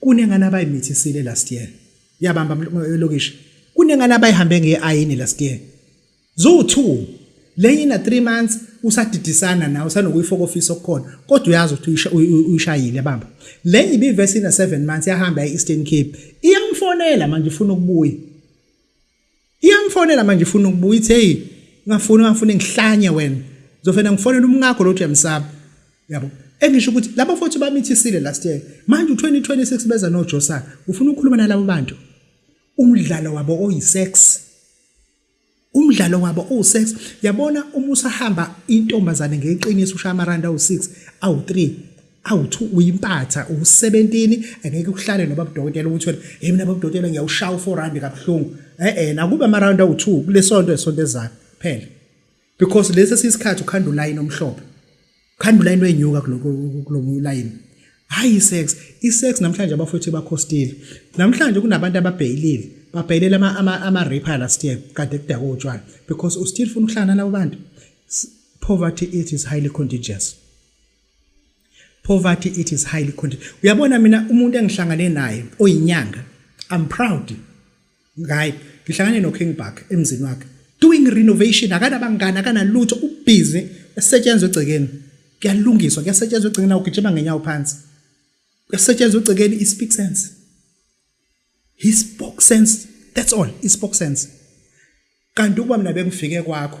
kunengane abayimithisile last year yabamba lokishi kunengane abayihambe ngeayini last year zo two lenye ina 3 months usadidisana nawe usanokuyifokofisa okukhona kodwa uyazi ukuthi uyishayile bamba lenye ibivesi ina 7 months yahamba e-Eastern Cape iyamfonela manje ufuna ukubuya iyamfonela manje ifuna ukubuya ithi hey ngafuna ngafuna ngihlanye wena zofena ngifonela umngakho lo Jemsaba yabo engisho ukuthi laba futhi bamithisile last year manje u2026 beza no Josa ufuna ukukhuluma nalabo bantu umdlalo wabo oyisex umdlalo wabo usex yabona uma usahamba intombazane ngeqiniso ushaya amaranda u6 awu3 awuthi uyimpatha usebentini angeke uhlale noba budokotela ukuthi wena hey mina babudokotela ngiyawushaya u4 rand kabuhlungu eh eh nakube ama round awu2 kulesonto esonto ezayo phela because lesi sisikhathi ukhanda ulayini omhlophe ukhanda ulayini wenyuka kuloko kulomunye ulayini hayi sex isex namhlanje abafowethu bakhostile namhlanje kunabantu ababhayilile babhayilela ama ama, ama raper last year kade kudaka utshwala because u still funa ukuhlana labo bantu poverty it is highly contagious poverty it is highly content uyabona mina umuntu engihlangane naye oyinyanga i'm proud ngaye ngihlangane no King Buck emzini wakhe doing renovation akanabangani akanalutho ubhizi esetshenzwe egcekeni kuyalungiswa kuyasetshenzwa egcekeni awugijima ngenyawo phansi kuyasetshenzwa egcekeni i speak sense he spoke sense that's all i spoke sense kanti ukuba mina bengifike kwakho